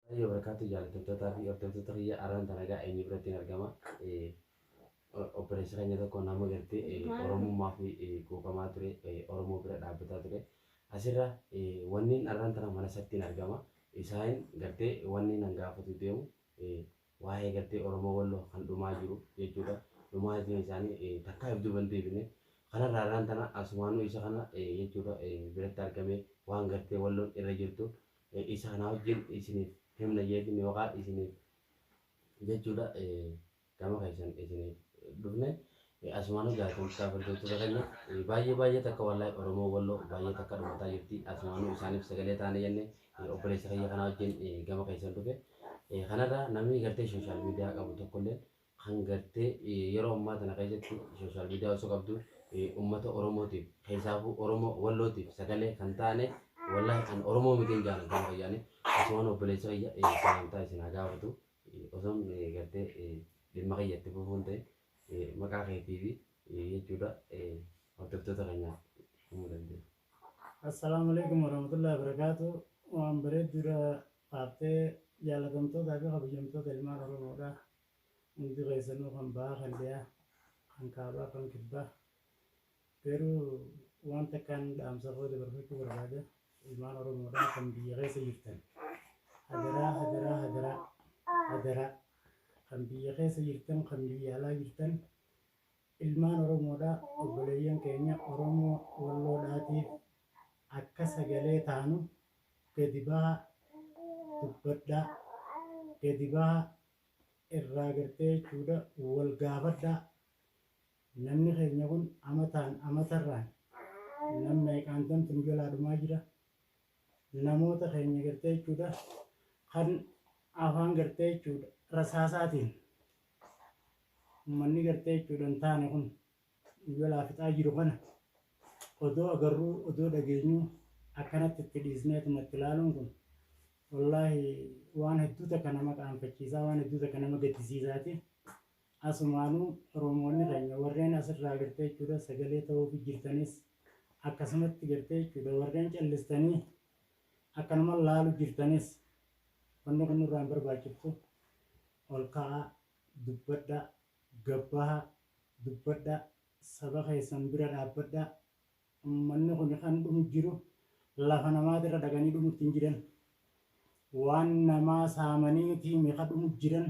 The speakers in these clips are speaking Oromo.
Warahmatullahi wabarakatuh jaalattottootaa fi hordoftoota kiyya arraan tana egaa eenyu birattiin argama obboleessa keenya tokko nama gartee oromummaa fi quuqamaa ture oromoo bira dhaabbataa ture asirra wanniin arraan tana mana isattiin argama isaan gartee wanniin an gaafatu deemu waa'ee gartee oromoo walloo kan dhumaa jiru jechuudha dhumaatiin isaanii takkaa if duban deebine kanarraa arraan tana asumaanuu isa kana jechuudha biratti argamee waan gartee walloon irra jirtu isaanaa wajjin isiniif himna jeetiin yookaan isiniif jechuudha gama keessan isiniif dhufne asumaanuu jaatamsaa hordoftoota keenya baay'ee baay'ee takka wallahi oromoo walloo baay'ee takka dhumataa jirti asumaanuu isaaniif sagalee taane jenne obboleessa kiyya kanaa wajjin gama keessan dhufe kanarraa namni gartee sooshaal miidiyaa qabu tokkolleen kan gartee yeroo ammaa tana keessatti social media osoo qabdu ummata oromootiif keessaafuu oromoo wallootiif sagalee kan taane wallahi an oromoo mitiin jaana gama kiyyaani asumaan obboleessi kiyya salaamtaa isin haa gaafatu osoon gartee dhimma kiyya itti fufuun ta'e maqaa keetii fi jechuudha hordoftoota keenyaaf himuu dandeenya. Assalaamu alaikum warahmatullahi wabarakatuh. Waan bareedduudha kaaftee jaalatamtootaa fi kabajamtoota ilmaan Oromoodha. Hundi keessanuu kan bahaa kan dhiyaa, kan kaabaa kan kibbaa. Garuu waan takkaan dhaamsa koo dabarfachuu barbaada. Ilmaan Oromoodhaa kan biyya keessa jirtan. Hadaraa hadaraa hadaraa hadaraa kan biyya keessa jirtan kan biyya alaa jirtan ilmaan Oromoodhaa obboleeyyan keenya Oromoo Walloodhaatiif akka sagalee taanu gadi baha dubbadhaa gadi baha irraa gartee jechuudha wal gaafadhaa namni keenya kun amataan amatarraan nam meeqaantamtu nu jalaa dhumaa jira namoota keenya gartee jechuudha kan afaan gartee jechuudha rasaasaatiin ummanni gartee jechuudha hin taane kun Kun jalaa fixaa jiru kana odoo agarruu odoo dhageenyuu akkanatti itti dhiisneetuma itti laaluun kun wallaahi waan hedduu takka nama qaanfachiisaa waan hedduu takka nama gaddisiisaati. Asumaanuu Oromoonni keenya warreen asirraa gartee jechuudha sagalee ta'uufi jirtanis akkasumatti gartee jechuudha warreen callistanii akkanuma laalu jirtanis wanni kun nurraa hin barbaachiftu ol ka'aa dubbadhaa Gad bahaa, dubbadhaa, saba keessan bira dhaabbadhaa, ummanni kuni kan dhumu jiru lafa namaati irra dhaqanii dhumutti hin jiran, waan namaa saamaniitiimi ka dhumu jiran,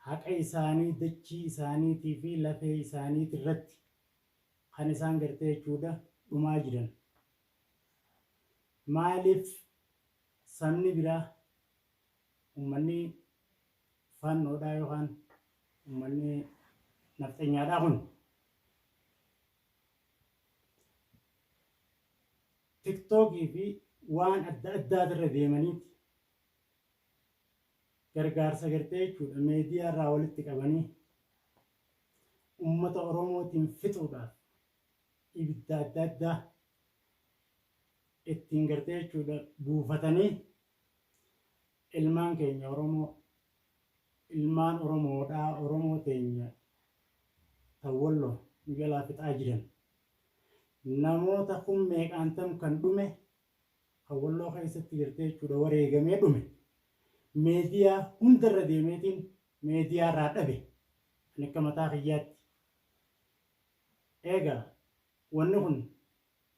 haqa isaanii dachii isaaniitii fi lafee isaaniiti irratti kan isaan gartee jechuudha dhumaa jiran. Maaliif sabni biraa, ummanni Faannoodhaa yookaan ummanni nafxenyaadhaa kun tiktookii fi waan adda addaati irra deemaniiti gargaarsa gartee jechuudha meediyaa irraa walitti qabanii ummata oromootiin fixuudhaaf ibidda adda addaa ittiin gartee jechuudha buufatanii Ilmaan keenya Oromoo ilmaan Oromoodhaa Oromoo teenya tan Wollo nu jalaa fixaa jiran namoota kum meeqaan tam kan dhume kan Wolloo keessatti gartee jechuudha wareegamee dhume meediyaa hunda irra deemeetiin meediyaa irraa dhabe ani akka mataa kiyyaatti eegaa wanni kun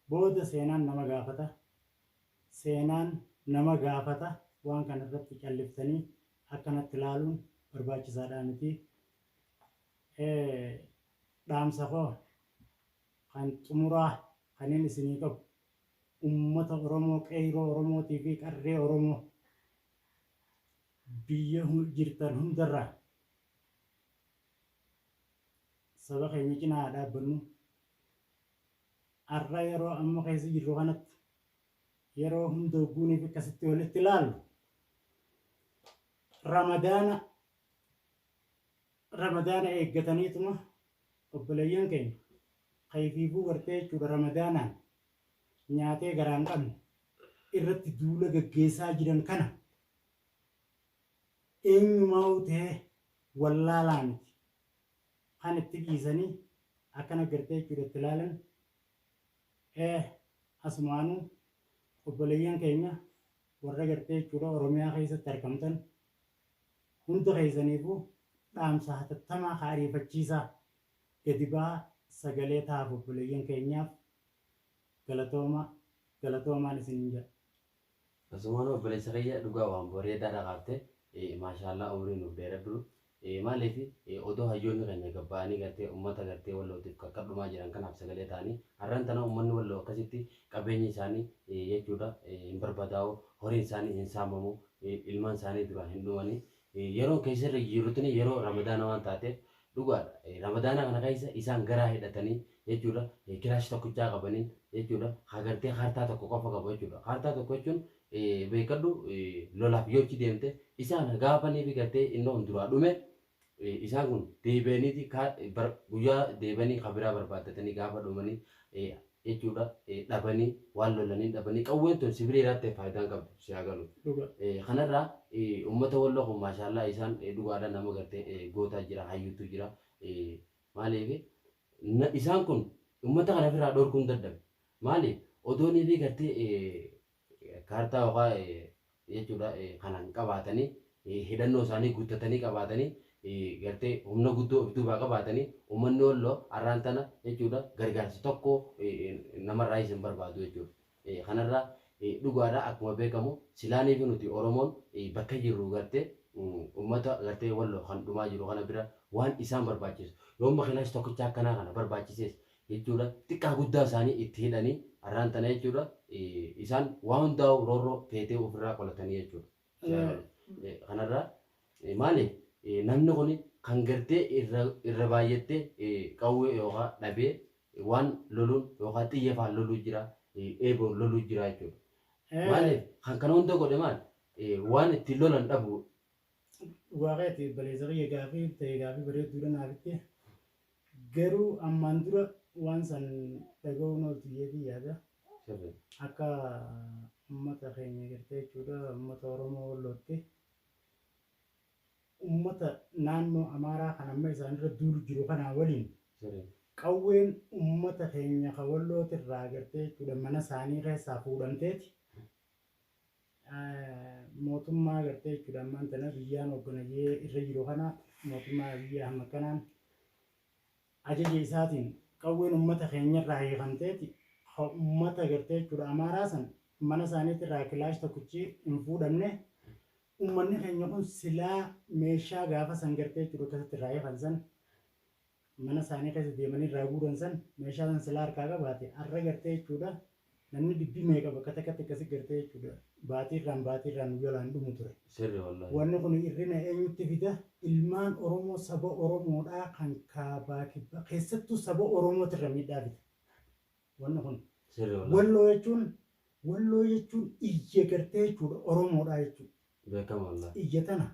Booda seenaan nama gaafata. Seenaan nama gaafata. Waan kana irratti calliftanii akkanatti ilaaluun barbaachisaadhaa miti. Dhaamsa koo kan xumuraa kanin isinii qabu ummata Oromoo, qeeyroo Oromootii fi qarree Oromoo biyya jirtan hundarraa saba keenya cinaa haa dhaabbannu. Har'a yeroo amma keessa jirru kanatti yeroo hunda hogguuniif akkasitti walitti ilaallu ramadaana ramadaana eeggataniituma obboleeyyan keenya kayfiifuu gartee jechuudha ramadaanaan nyaatee garaan qabne irratti duula gaggeessaa jiran kana eenyumaa ta'ee wallaalaa miti Kan itti dhiisani akkana gartee jechuudha itti laalan eeh asumaanu obboleeyyan keenya warra gartee jechuudha oromiyaa keessatti argamtan hundi keessaniifu dhaamsa hatattamaa ka ariifachiisaa gadi baha sagalee tahaaf obboleeyyan keenyaaf galatooma galatoomaan isiniin jedha. Asumaanuu obboleessa kiyya dhugaa waan bareedaadha kaafte maashaallaa umrii nuuf dheeradhu maaliif odoo hayyoonni keenya gad ba'anii gartee ummata gartee wallootiif qarqar dhumaa jiran kanaaf sagalee ta'anii har'an tana ummanni walloo akkasitti qabeenyi isaanii jechuudha hin barbadaa'u horiin isaanii hin saamamu ilmaan isaanii duraa hin dhumani Yeroo keessa irra jijirrutini yeroo ramadaana waan taatef dhugaadha ramadaana kana keessa isaan garaa hidhatanii jechuudha kiraash tokkichaa qabaniin jechuudha haa gartee kaartaa tokko qofa qabu jechuudha kaartaa tokko jechuun beekadhu lolaaf yoochi deemte isaan gaafaniifi gartee innoon duraa dhume isaan kun deebi'aniiti guyyaa deebi'anii kabiraa barbaaddatanii gaafa dhumanii jechuudha dhabani waan lolaniin dhabani qawween tun si bira jiraatte faayidaa hin qabdu si haa galu kanarraa ummata walloo kun maashaallaa isaan dhugaadha nama garte gootaa jira hayyuutu jira maaliif isaan kun ummata kana ofirraa dhorkuun dadhabe maaliif odoonii fi gartee Kaartaa yookaa jechuudha kana hin qabaatanii hidhannoo isaanii guttatanii qabaatanii gartee humna guddoo of duubaa qabaatanii ummanni Wollo arraan tana jechuudha gargaarsa tokko namarraayis hin barbaadu jechuudha. Kanarraa dhugaadha akkuma beekamu silaaniifi nuti Oromoon bakka jirru gartee ummata gartee Wollo kan dhumaa jiru kana bira waan isaan barbaachisu yoo makiinaash tokkicha akkanaa kana barbaachisees jechuudha. Xiqqaa guddaa isaanii itti hidhanii arraan tana jechuudha isaan waa hundaa'uu roorroo feetee ofirraa qolatanii jechuudha. Ee. Kanarraa maali namni kun kan gartee irra irra baay'attee qawwee yookaa dhabee waan loluun yookaa xiyya faan loluu jira eeboon loluu jira jechuudha. Ee. Maaliif kan kana hunda godhe maal waan ittiin lolan dhabuu. Dhugaa keeti obboleessa kiyya gaafii tee gaafii bareedduudha naaf itti Garuu ammaan dura waan san dhaga'uun ooltu jeetii yaada. Akka ummata keenya gartee jechuudha ummata Oromoo Wallootti ummata naannoo Amaaraa kan amma isaanirra duulu jiru kanaa waliin qawween ummata keenya ka Wallootirraa gartee jechuudha mana isaanii keessaa fuudhamteeti mootummaa gartee jechuudha ammaan tana biyyaan hoogganayee irra jiru kana mootummaa Abiyyi Ahmad kanaan ajaja isaatiin qawween uummata keenyarraa hiikamteeti uummata gartee jechuudha amaaraa san mana isaaniitirraa kilaash tokkichi hin fuudhamne uummanni keenya kun silaa meeshaa gaafa san gartee jechuudha akkasitti irraa hiikan san mana isaanii keessa deemanii irraa guuran san meeshaa san silaa harkaa qabaate arra gartee jechuudha namni dhibbi meeqa bakka takkatti akkasi gartee jechuudha baatii irraan baatii irraan nu jalaan dhumu ture. Sirri wallahi. Wanni kuni irrina eenyutti fida? Ilmaan Oromoo saba Oromoodhaa kan kaabaa kibbaa keessattuu saba Oromooti irra miidhaa fida wanni kuni. Sirri wallahi. Walloo jechuun Walloo jechuun iyya gartee jechuudha Oromoodhaa jechuudha. Beekama wallahi. Iyya tana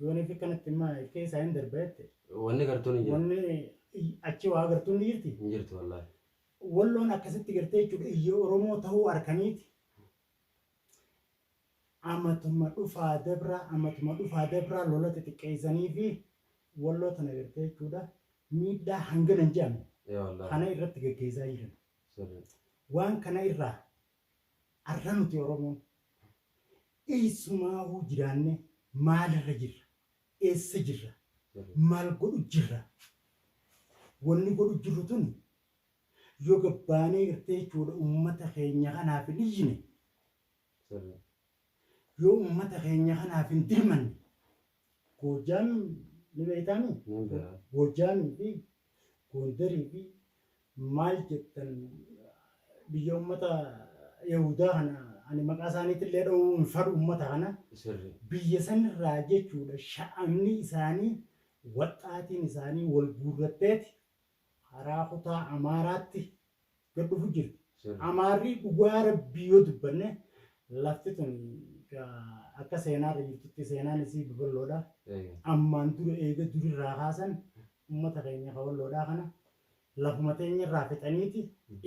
Yoon ifi kanatti immaa ilkee isaa hin darba jette. Wanni gartuun hin jiru. Wanni achi waa gartuun ni jirti. Hin jirtu wallaahi. Walloon akkasitti gartee jechuudha iyya Oromoo ta'uu arkaniiti. Amatuma dhufaa dabraa amatuma dhufaa dabraa lola xixiqqeessanii fi walloo tana gartee jechuudha miidhaa hangana hin jedhamne kana irratti gaggeessaa jiran. Waan kana irraa Har'a nuti Oromoon eessumaahuu jiraannee maalirra jirra? Eessa jirra? Maal godhu jirra? Wanni godhu jirru tuni yoo gad baanee gartee jechuudha ummata keenya kanaaf hin iyyine, yoo ummata keenya kanaaf hin dirmanne Goojjaamiin ni beektaa mii? Nan beeka. Goojjaamii fi Goondarii fi maal jettan biyya ummata Yahudaa kana ani maqaa isaaniitillee dha'uu hin fadhu ummata kana. Sirri. Biyya sanirraa jechuudha sha'amni isaanii waxxaatiin isaanii wal guurratteeti haraa kutaa amaaraatti gad dhufu jirti amaarrii dhugaa rabbii yoo dubbanne lafti tun akka seenaa irra jirtutti seenaan isii babal'oodha ammaan dura eega durirraa kaasan ummata keenya kawalloodhaa kana lafuma teenya irraa fixaniiti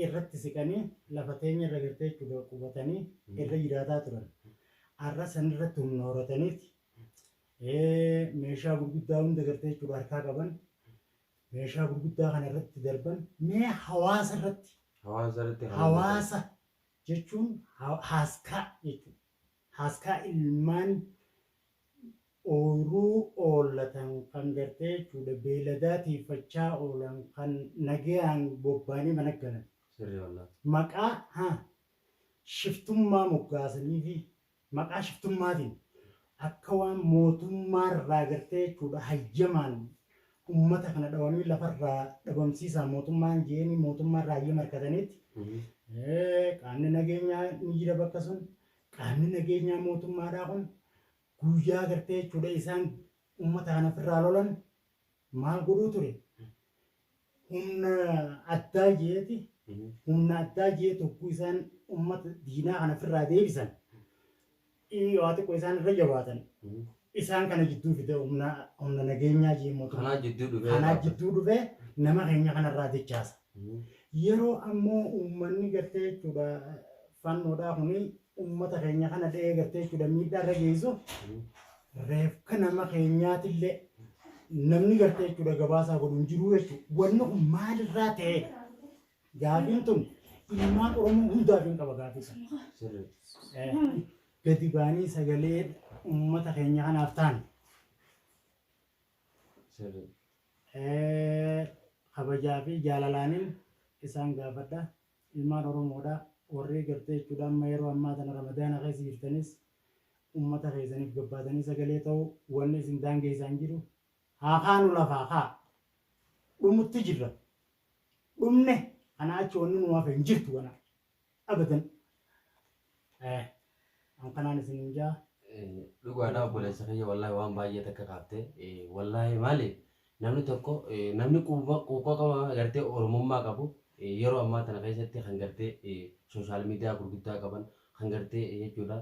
irratti siqanii lafa teenya irra gartee jechuudha qubatanii irra jiraataa turan arra san irratti humna horataniiti meeshaa gurguddaa hunda gartee jechuudha harkaa qaban meeshaa gurguddaa kana irratti darban mee hawaasa irratti Hawaasa irratti kan hojjetan. hawaasa jechuun ha- haaskaa jechuudha. Haaskaa ilmaan ooyiruu oollatan kan gartee jechuudha beeladaa tiifachaa oolan kan nagayaan bobbaanii mana galan Sirrii wallah. maqaa ha shiftummaa moggaasanii fi Maqaa shiftummaatiin akka waan mootummaarraa gartee jechuudha hayyamaan ummata kana dhawanii lafarraa dhabamsiisaa mootummaan je'eenii mootummaarraa hayyama harkataniitti qaamni nageenyaa ni jira bakka sun qaamni nageenyaa mootummaadhaa kun guyyaa gartee jechuudha isaan ummata kana ofirraa lolan Maal godhuu ture? Humna addaa jeeti, humna addaa jee tokko isaan ummata diinaa kana ofirraa deebisan, ii waa xiqqoo isaan irra jabaatan, isaan kana jidduu fide humna, humna nageenyaa jee mootummaa. Kanaa jidduu dhufee Kanaa dhaabbata. jidduu dhufee nama keenya kanarraa dechaasa. Yeroo ammo ummanni gartee jechuudha fannoodhaa kuni ummata keenya kana dha'ee gartee jechuudha miidhaa irra geessu reefka nama keenyaatillee namni gartee jechuudha gabaasaa godhu hin jiru jechuudha. Wanni kun maalirraa ta'e? Gaafiin tun ilmaan Oromoo hundaaf hin qaba gaafii sana. Gadi baanii sagalee ummata keenya kanaaf taane. sirrii. kabajaa fi jaalalaanin isaan gaafadha. Ilmaan Oromoodha. Warrii gartee jechuudha amma yeroo ammaa tana Ramadaana keessa jirtanis ummata keessaniif gabbaatanii sagalee ta'uu wanni isin daangeessaa hin jiru. Haa kaanu lafaa kaa! Dhumutti jirra. Dhumne kanaa achi wanni nuu hafe hin jirtu ganaa. abadan Eh, an kanaan isinin jaa dhugaadha obboleessa kiyya wallaahi waan baay'ee takka kaafte wallaahi maali namni tokko namni quufa quuqa qaba gartee oromummaa qabu yeroo ammaa tana keessatti kan gartee sooshaal miidiyaa gurguddaa qaban kan gartee jechuudha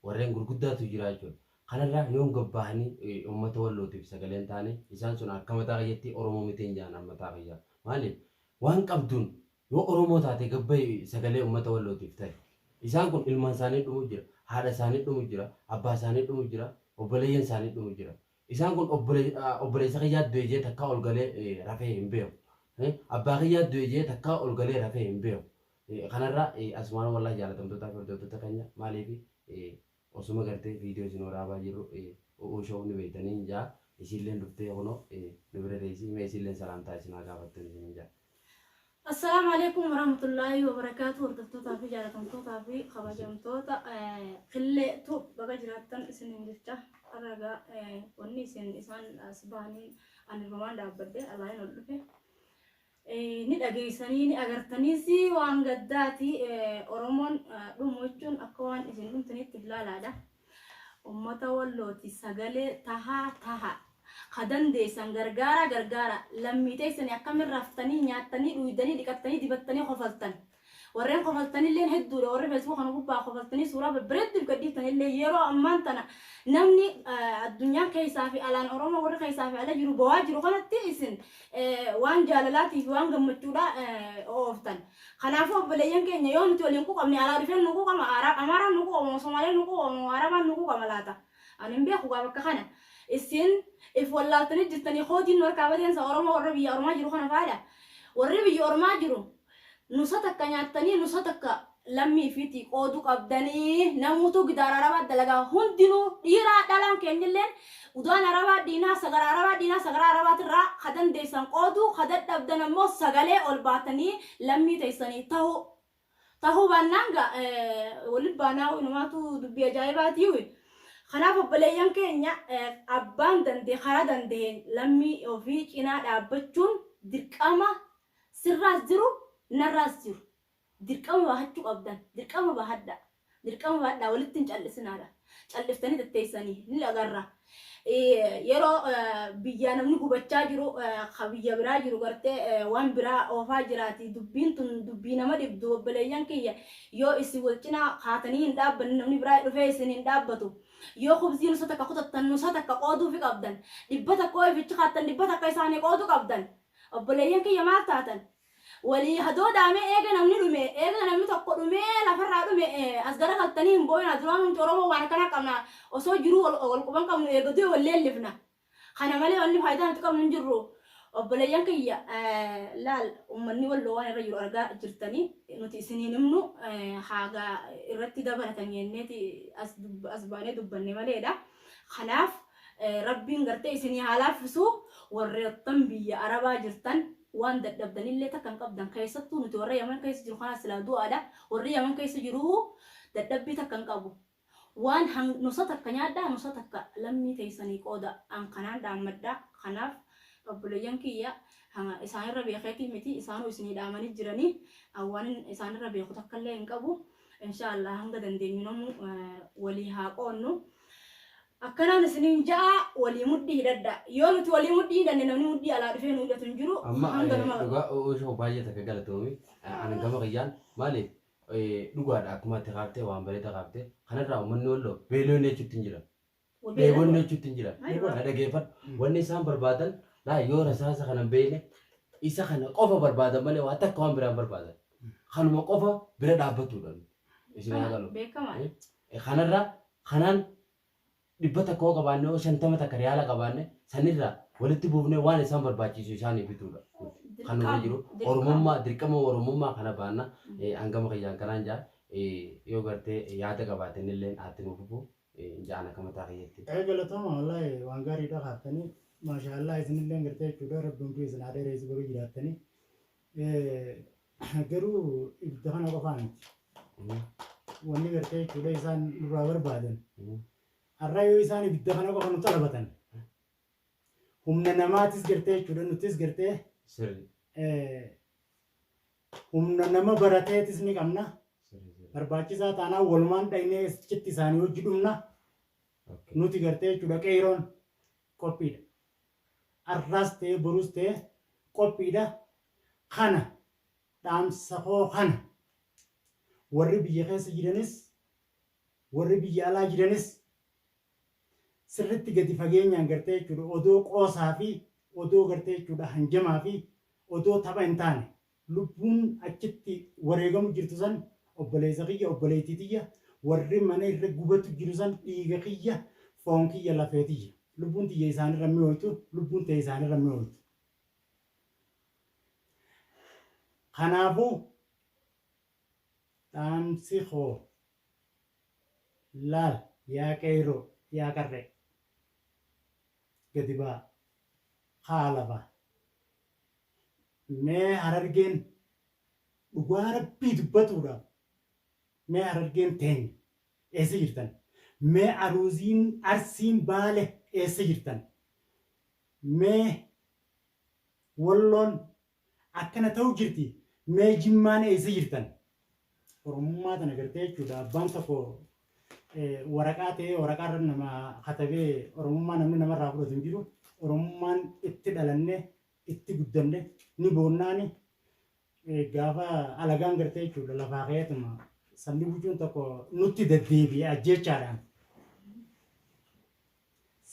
warreen gurguddaatu jira jechuudha. Kanarraa yoon gabbaahanii uummata wallootiif sagaleen taane isaan sun akka mataa kiyyatti oromoo mitiin jaan mataa kiyyaa maaliif waan qabduun Yoo Oromoo taate gad bahi sagalee ummata Wallootiif tahi. Isaan kun ilmaan isaanii dhumu jira, haadha isaanii dhumu jira, abbaa isaanii dhumu jira, obboleeyyan isaanii dhumu jira. Isaan kun obboleessa kiyyaa du'e jedhee takkaa ol galee rafee hin beeku. Abbaa kiyyaa du'e jedhee takkaa ol galee rafee hin beeku. Kanarraa asumaan wallahi jaalatamtootaa fi hordoftoota keenya maaliif Osuma gartee video isin waraabaa jirru U'uu show ni beektanii hin ja'a. Isiilleen dhuftee kunoo nu bira teessi. Mee isiilleen salaamtaa isin haa gaafattuun isiniin ja'a. Assalaamu Aleeykum Warahmatullaahi Wabarakaatuh Hordoftootaa fi Jaalatamtootaa fi Kabajamtoota Killee Tube baga jiraattan isiniin jecha har'a egaa wanni isin isaan as bahaniin ani irrumaan dhaabbadhe alaayin ol dhufe Ni dhageessanii ni agartaniis waan gaddaati Oromoon dhumu jechuun akka waan isin dhumtaniitti ilaalaadha. Uummata wallooti sagalee tahaa taha. Ka dandeessan gargaara gargaara. Lammii teessanii akkamiin raftanii nyaattanii dhuydanii dhiqattanii dibattanii kofaltan. Warreen kofaltanilleen hedduudha. Warri Facebook kana gubbaa kofaltanii suuraa babbareedduu if gadhiiftanillee yeroo ammaan tana namni eh, addunyaan keessaa fi alaan Oromoo warri keessaa fi ala jiru bowaa jiru kanatti isin eh, waan jaalalaatii fi waan gammachuudhaa eh, ooftan. Kanaafuu obboleeyyan keenya yoo nuti waliin quuqamne alaa dhufeen nu quuqama Ara- Amaaraan nu quuqama Somaaleen nu quuqama Arabaan nu quuqama laata. Ani hin beeku gaa bakka kana. Isin if wallaaltanii jirtanii koodiin nu harkaa badeensa Oromoo warra biyya Oromaa jiru kana faadha. Warri biyya Oromaa jiru Nusa takka nyaattanii nusa takka lammii ifiitii qoodu qabdanii namuutuu gidaara arabaa dalagaa hundinuu dhiiraa dhalaan keenyilleen udaan arabaa diinaa sagara arabaa diinaa sagaraa arabaatirraa ka dandeessan qooduu ka dadhabdan ammoo sagalee ol baatanii lammii teessanii tahuu tahuu baannaan ga waliin baanaa wayinumaatu dubbii ajaa'ibaatii kanaaf obboleeyyan keenya abbaan dandee karaa dandeen lammii ofii cinaa dhaabbachuun dirqama Sirraas jiru, narraas jiru. Dirqama bahachuu qabdan. Dirqama bahadhaa. Dirqama bahadhaa. Walitti hin callisinaadha. Calliftanii tatteessanii ni agarra. Yeroo biyyaa namni gubachaa jiru, ka biyya biraa jiru gartee waan biraa oofaa jiraati. Dubbiin tun dubbii nama dhibdu obboleeyyan kiyya. Yoo isin wal cinaa kaatanii hin dhaabbanne namni biraa dhufee isin hin dhaabbatu. Yoo khubzii nusa takka kutattan nusa takka qooduufi qabdan. Dhibba takka yoo ifichi kaattan dhibba takka isaanii qoodu qabdan. Obboleeyyan kiyya maal taatan? Walii hadoodaa mee eega namni dhume, eega namni tokko dhumee lafarraa dhume as garagaltanii hin booyinaa, duraanuu nuti Oromoo waan akkanaa qabna, osoo jiruu wal quba hin qabnu eega du'e wal leellifna. Kana malee wanni faayidaa nuti qabnu hin jirru. Obboleeyyan kiyya laal ummanni Walloo waan irra jiru argaa jirtani, nuti isin hin himnu haaga irratti dabalatan jenneeti as baanee dubbanne maleedha. Kanaaf Rabbiin gartee isinii haa laaffisuu warreettan biyya arabaa jirtan waan dadhabdan illee takka hin qabdan keessattuu nuti warra yaman keessa jiru kanaas silaa du'aadha warri yaman keessa jiruu dadhabbii takka hin qabu waan hang nusa takka nyaadhaa nusa takka lammii teessanii qooda an kanaan dhaammadha kanaaf obboleeyyan kiyya hanga isaan irra beekeetii miti isaanuu isinii dhaamanii jiranii an waanin isaan irra beeku takka illee hin qabu inshaa allah hanga dandeenyu namuu walii haa qoonnu Akkanaan isiniin ja'a, walii mudhii hidhadhaa. Yoo nuti walii mudhii hidhanne namni mudhii alaa dhufee nu hidhatu hin jiru. Amma Hanga eh, nama. dhugaa u- uusha koo baay'ee takka galatoomi. Eh, Ani gama kiyyaan maaliif eh, dhugaadha akkuma ati kaaftee waan bareedaa kaaftee kanarraa uummanni walloo beelonni jechuutti hin jira. Wa beelan Dheebonni wa. jechuutti hin jira. Maal irraa? Na dhageeffadhu. Wanni isaan barbaadan laa yoo rasaasa kana hin beekne isa kana qofa barbaadan malee waa takka waan biraa hin barbaadan. Kanuma qofa bira dhaabbatuudha. nuti. Isin haa galu. Beekamaa. Eh, Kanarra kanaan dhibba takka yoo qabaanne yoo shantama takka riyaala qabaanne sanirraa walitti buufnee waan isaan barbaachisu isaanii bituudha. nuti. Kan nurra jiru Dirqama. oromummaa dirqama oromummaa kana baanna Eh, hangama kiyyaan kanaan jaa Eh, yoo gartee yaada qabaatan illee haatti nuuf fufu Eh, hin ja'an akka mataa kiyyatti. Ee galatooma wallaahi waan gaariidha kaaftanii maashaa Allah isinillee gartee jechuudha rabbi umrii isin haa dheereessu baga jiraattanii Garuu ibidda kana qofaa miti. Wanni gartee jechuudha isaan nurraa barbaadan. Har'a yoo isaan ibidda kana qofa nu xalabatan. Humna namaatis gartee jechuudha nutis gartee Sirri. eh, humna nama barateetis ni qabna. Sirri sirri. Barbaachisaa taanaan walumaan dhaynee achitti isaanii hojii dhumna. Okay. Nuti gartee jechuudha qeeroon qophiidha. arraas ta'ee boruus ta'ee qophiidha. Kana dhaamsa koo kana warri biyya keessa jiranis warri biyya alaa jiranis sirritti gadi fageenyaan gartee jechuudha odoo qoosaa fi odoo gartee jechuudha hanjamaa fi odoo tapha hin taane lubbuun achitti wareegamu jirtu san obboleessa kiyya obboleettii tiyya warri mana irra gubatu jiru san dhiiga kiyya foon kiyya lafee tiyya lubbuun tiyya isaanirra mi'ooytu lubbuun tee isaanirra mi'ooytu kanaafu dhaamsi koo laal yaa qeeyroo yaa qarree gadi baa kaa lafa Mee harargeen dhugaa rabbii dubbatuudhaaf mee harargeen teenya eessa jirtan mee aruuziin arsiin baale eessa jirtan mee walloon akkana ta'u jirti mee jimmaan eessa jirtan. Oromummaa tana gartee jechuudha abbaan tokko waraqaa ta'ee waraqaa irra nama katabee Oromummaa namni namarraa fudhatu hin jiru. Oromummaan itti dhalanne itti guddanne ni boonnaani gaafa alagaan gartee jechuudha lafaa ka'eetuma sabni bulchuun tokko nutti deddeebi'e ajjeechaadhaan.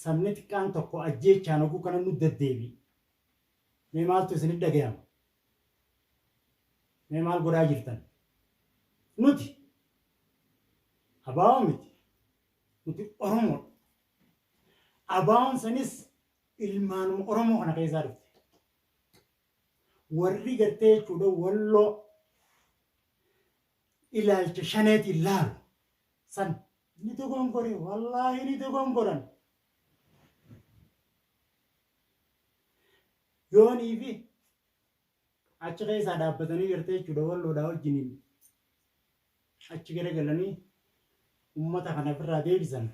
Sabni xiqqaan tokko ajjeechaan oguu kana nu deddeebi'e. Mee maaltu isinitti dhagayama? Mee maal godhaa jirtan? Nuti ABO miti. Nuti Oromoodha. ABOn sanis ilmaanuma Oromoo kana keessaa dhufte. Warri gartee jechuudha walloo ilaalcha shaneetiin laalu san ni dogongore wallaahi ni dogongoran. Yoonii fi achi keessaa dhaabbatanii jirtee jechuudha walloodhaa wajjiniin achi garagalanii ummata kana ofirraa deebisan.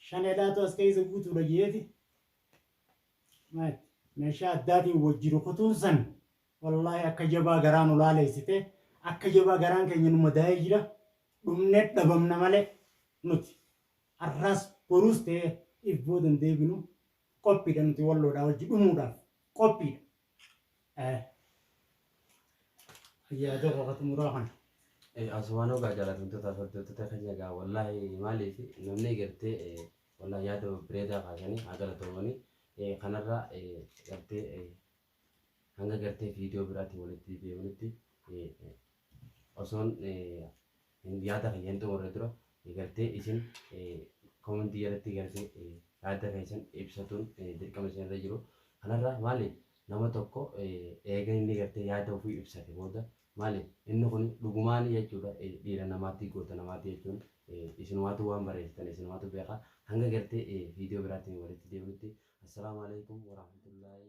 Shaneedhaatu as keessa guutuudha jeeti. Meeshaa addaatiin wajji rukutuun san wallaahi akka jabaa garaa nu laaleessite akka jabaa garaan keenya nu madaa'ee jira dhumne dhabamna malee nuti har'aas boruus ta'ee if boodan deebinu Qophiidha nuti walloodhaa wajji dhumuudhaaf qophiidha. Eh. Yaa tokko ka xumuraa kana. Eh, Asumaan ogaa jaalatamtoota hordoftoota keenya egaa wallaahi maaliif namni gartee eh, wallaahi yaada babbareedaa kaasanii haa galatoomanii eh, kanarraa eh, gartee eh, Hanga gartee viidiyoo biraatiin walitti deebinutti osoon yaada kiyya hin xumurre dura gartee isin koomentii jalatti gartee yaada keessan ibsatuun dirqama isin irra jiru. Kanarraa maali nama tokko eega inni gartee yaada ofii ibsate booda maali inni kun dhugumaanii jechuudha dhiira namaatii goota namaatii jechuun isinumaatu waan bareessitan isinumaatu beeka hanga gartee viidiyoo biraatiin walitti deebinutti assalaamu alaikum warahmatullaahi